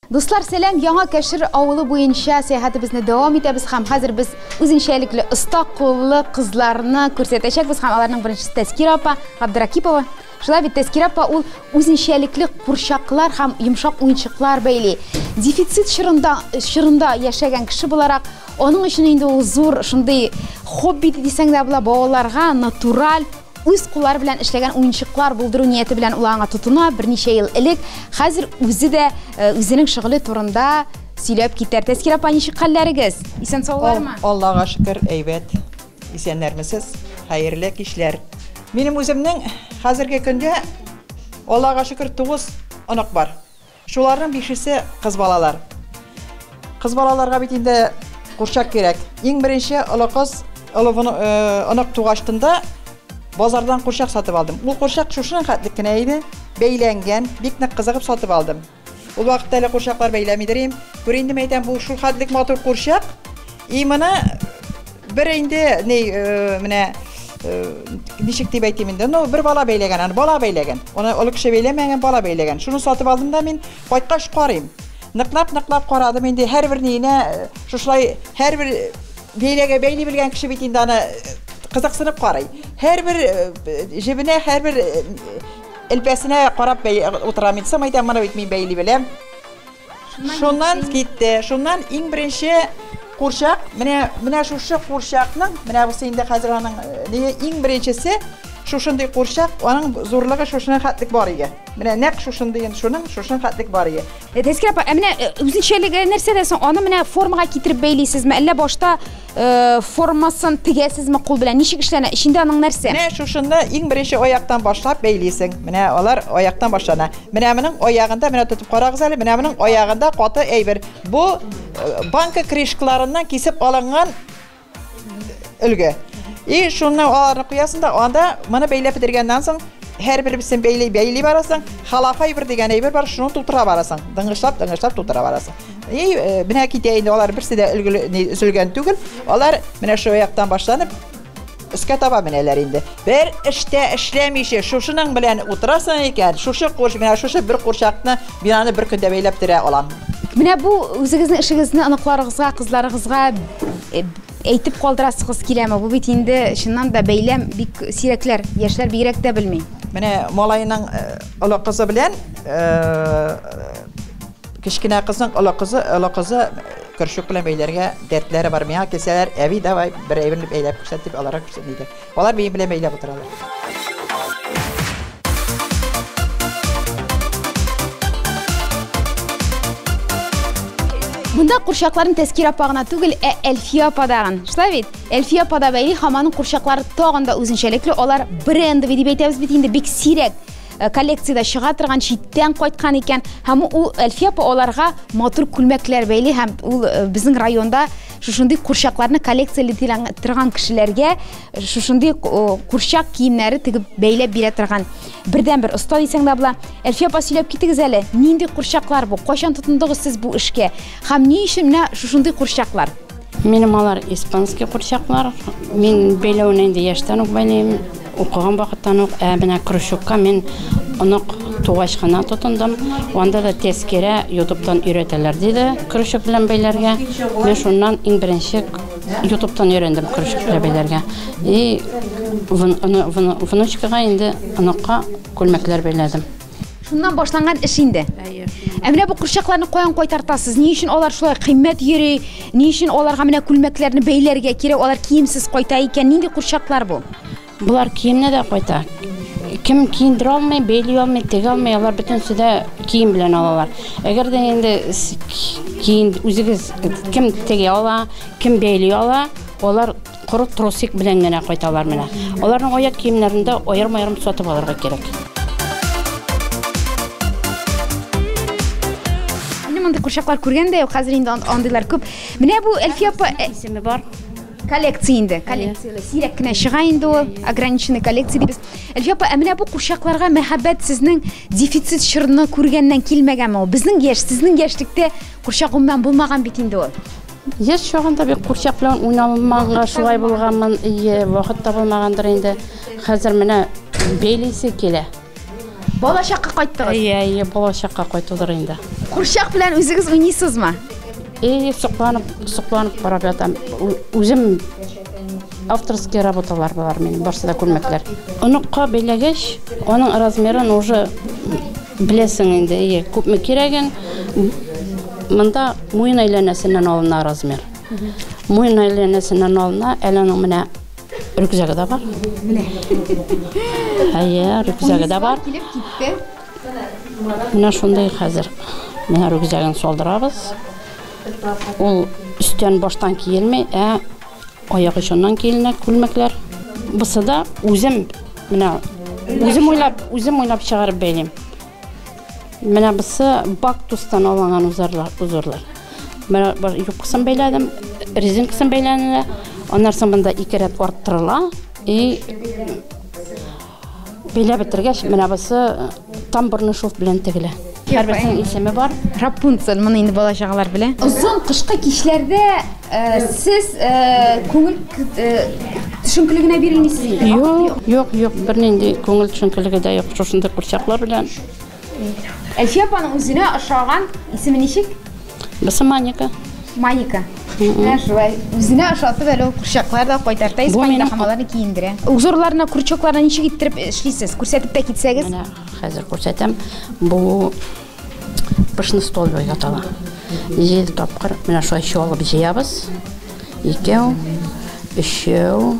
Дуслар, сәләм, яңа кәшір ауылы бойынша сәяхәтебезне дәвам итәбез һәм хәзер без үзенчәлекле оста куллы кызларны күрсәтәчәкбез һәм аларның беренчесе Тәскир апа Габдракипова. Шулай бит, Тәскирә апа, ул үзенчәлекле курчаклар һәм йомшак уенчыклар бәйли. Дефицит чорында, чорында яшәгән кеше буларак, аның өчен инде ул зур шундый хобби дисәң дә була, балаларга натураль үз куллары белән эшләгән уенчыклар булдыру нияте белән ул аңа тотына берничә ел элек. Хәзер үзе дә э, үзенең шөгыле турында сөйләп китәр. Тәскирә апа, ничек хәлләрегез? Исән-саулармы? Аллага шөкер, әйбәт. Исәннәрмесез, хәерле кичләр! Минем үземнең хәзерге көндә, Аллага шөкер, тугыз онык бар. Шуларның бишесе кыз балалар. Кыз балаларга бит инде курчак кирәк. Иң беренче олы кыз, олы онык тугач тында, базардан курчак сатып алдым. Ул курчак шушының хәтлек кенә иде, бәйләнгән, бик нык кызыгып сатып алдым. Ул вакытта әле курчаклар бәйләми дер им. Күр инде, мәйтәм, бу шул хәтлек матур курчак. И моны бер инде ни э, менә э, ничек дип әйтим инде, ну бер бала бәйләгән, аны бала бәйләгән. Аны олы кеше бәйләмәгән, бала бәйләгән. Шуны сатып алдым да мин кайткач карыйм. Ныклап-ныклап карадым инде һәрбер ниенә э, шушылай һәрбер бәйләгә бәйли белгән кеше бит инде аны э, кызыксынып карый. Һәрбер э, җебенә һәрбер э, Элпәсенә карап бәй утырам инде, самай тәмана бит мин бәйли беләм. Шуннан китте. Шуннан иң беренче курчак, менә менә шушы курчакның, менә бусы инде хәзер аның э, иң беренчесе шушындый курчак, аның зурлыгы шушына хәтлек бар иде. Менә нәкъ шушындый инде шуның, шушына хәтлек бар иде. Тәскә апа, ә менә э, үзенчәлеге нәрсәдә соң? Аны менә формага китереп бәйлисезме, әллә башта Э, формасын тегәсезме кул белән? Ничек эшләнә? Эчендә аның нәрсә? Менә шушында иң беренче аяктан башлап бәйлисең. Менә алар аяктан башлана. Менә моның аягында, менә тотып карагыз әле, менә моның аягында каты әйбер. Бу э, банка крышкаларыннан кисеп алынган өлге. И шуны аларны куясың да, анда моны бәйләп бетергәннән соң һәр беребезен бәйли бәйли барасың. Халафай бер дигән әйбер бар, шуны тутыра барасың. Дыңгышлап, дыңгышлап тутыра барасың. И менә китә инде алар берсе дә өлгеле өзелгән түгел. Алар менә шул яктан башланып өскә таба менәләр инде. Бер эштә эшләмичә шушының белән утырасың икән, шушы курч менә шушы бер курчакны бинаны бер көндә бәйләп терә алам. Менә бу үзегезнең эшегезне оныкларыгызга, кызларыгызга әйтеп калдырасыгыз киләме? Бу бит инде чыннан да бәйләм бик сирәкләр, яшьләр бигрәк тә белми. Менә малайның олы кызы белән Кечкенә кызның олы кызы, олы кызы көрчек белән бәйләргә дәртләре бар. Миңа килсәләр, әби, давай, бер әйбер бәйләп күрсәт дип, аларга күрсәтми дә. Алар минем белән бәйләп утыралар. Монда курчакларны Тәскир апа гына түгел, ә Әлфия апа да гын. Шулай бит? Әлфия апа да бәйли, һәм аның курчаклары тагын да үзенчәлекле, алар брендовый дип әйтәбез бит инде, бик сирәк. Э, коллекцияда чыга торган читтән кайткан икән һәм ул әлфия апа аларга матур күлмәкләр бәйли һәм ул э, безнең районда шушындый курчакларны коллекцияли торган кешеләргә э, шушындый курчак киемнәре тегеп бәйләп бирә торган бердән бер оста дисәң дә була әлфия апа сөйләп китегез әле нинди курчаклар бу кайчан тотындыгыз сез бу эшкә Һәм ни өчен менә шушындый курчаклар? Минем алар испанский курчаклар. Мин бәйләвен инде яшьтән үк бәйлим, укыган вакыттан ук. Ә менә крючокка мин онык тугач кына тотындым. Анда да тәскирә ютубтан өйрәтәләр диде крючок белән бәйләргә. Мин шуннан иң беренче ютубтан өйрәндем крючок белән бәйләргә. И внучкага инде оныкка күлмәкләр бәйләдем. Шуннан башланган эш инде. Әйе. Ә менә бу курчакларны каян кайтартасыз? Ни өчен алар шулай кыйммәт йөри? Ни өчен аларга менә күлмәкләрне бәйләргә кирәк? Алар киемсез кайта икән. Нинди курчаклар бу? Болар киемне дә кайта. Кем киендерә алмый, бәйли алмый, тегә алмый, алар бөтенесе дә кием белән алалар. Әгәр дә инде киен үзегез кем тегә ала, кем бәйли ала, алар Коры тросик белән генә кайталар менә. Аларның аяк киемнәрен дә аерым-аерым сатып алырга кирәк. Минем андый курчаклар күргән дә юк, хәзер инде андыйлар күп. Менә бу Әлфия апа э, исеме бар. Коллекция инде, коллекцияле. Сирәк кенә чыга инде ул, ограниченный коллекция дибез. Әлфия апа, ә менә бу курчакларга мәхәббәт сезнең дефицит чорны күргәннән килмәгәнме ул? Безнең яшь, сезнең яшьлектә курчак гомумән булмаган бит инде ул. Яшь чагында бик курчак белән уйналмаганга шулай булганмын, ие, вакыт табылмагандыр инде. Хәзер менә бәйлисе килә. Балачакка кайттыгыз. Ие, ие, балачакка кайтудыр инде. Курчак белән үзегез уйныйсызмы? Ие, сокланып, сокланып карап ятам. Үзем Авторские работалар болар минем, барсы да күлмәкләр. Оныкка бәйләгәч, аның размерын уже беләсең инде, ие, күпме кирәген. Монда муен әйләнәсеннән алына размер. Муен әйләнәсеннән алына, әле аның менә рюкзагы да бар. Менә. Әйе, рюкзагы да бар. Килеп китте. Менә шундый хәзер. Менә рюкзагын салдырабыз. Ул өстән баштан киелми, ә аяк очыннан киленә күлмәкләр. Бусы да үзем менә үзем уйлап, үзем уйлап чыгарып бәйлим. Менә бусы бактустан алынган узарлар, узарлар. Менә юбкасын бәйләдем, резинкасын бәйләнелә. Аннан соң монда ике рәт арттырыла и Бәйләп бетергәч, менә бусы тамбурны шов белән тегелә. Һәрберсенең исеме бар. Рапунцель, моны инде бала чагалар белә. Озын кышкы кичләрдә сез күңел төшенкеле генә бирелмисез инде. Юк, юк, юк, бернинди күңел төшенкелеге дә юк. Шушындый курчаклар белән. Әлфия апаның үзенә ошаган исеме ничек? Басы Маника. Маника. Менә шулай. Үзенә ошатып әле ул курчаклар да кайтарта, Бу испанияда минем- хамаларны киендерә. Узорларына, крючокларына ничек иттереп эшлисез? Күрсәтеп тә китсәгез. Менә хәзер күрсәтәм. Бу пышны стол дип атала. Җиде тапкыр менә шулай чуалып җыябыз. Икәү, өчәү,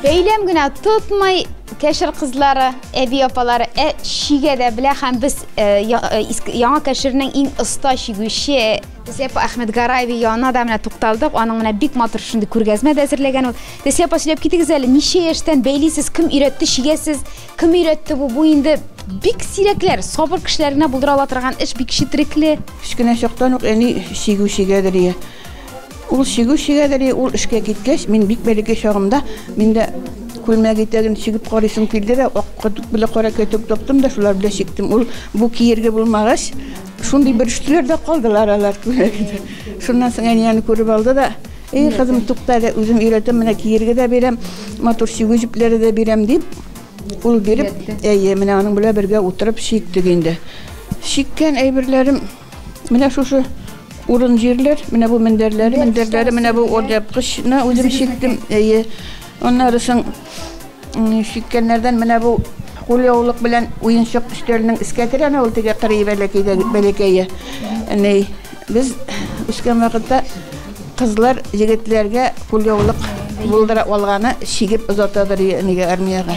Бәйләм генә тотмай кәшер кызлары, әби апалары ә чигә дә белә һәм без э, э, яңа кәшернең иң оста чигүче Десепа Әхмәт Гараеви янына да менә тукталдык. Аның менә бик матур шундый күргәзмә дә әзерләгән ул. Десепа сөйләп китегез әле, ничә яшьтән бәйлисез, кем өйрәтте чигәсез, кем өйрәтте бу, бу инде бик сирәкләр, сабыр кешеләренә булдыра ала торган эш бик четерекле. Кечкенә чактан ук әни чигү чигәдер ие. Ул чигү чигәдери, ул эшкә киткәч, мин бик бәләкәй чагымда, мин дә күлмәк итәген чигеп карыйсым килде дә, ак кәтүк белән кара кәтүк таптым да, шулар белән чиктем. Ул бу киергә булмагач, шундый бөрештеләр дә калдылар алар күлмәгемдә. Шуннан соң әни аны күреп алды да, Эй, кызым, тукта әле, үзем өйрәтәм, менә киергә дә бирәм, матур чигү җепләре дә бирәм, дип, ул биреп, әйе, менә аның белән бергә утырып чиктек инде. Чиккән әйберләрем, Менә шушы урын җирләр, менә бу мендәрләре, мендәрләре, менә бу ордяпкычны үзем чиктем. Әйе. Аннары соң чиккәннәрдән менә бу кулъяулык белән уенчык өстәленең искә терәне ул теге кырый бәләкәйдә бәләкәе. Әни, без үскән вакытта кызлар егетләргә кулъяулык булдыра алганы чигеп озатадыр әнигә армиягә.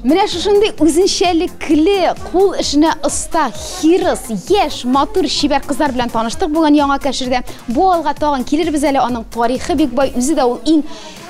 Менә шушындый үзенчәлекле, кул эшенә оста, хирыс, яшь, матур, чибәр кызлар белән таныштык булган яңа кәшердә. Бу алга тагын килербез әле, аның тарихы бик бай, үзе дә ул иң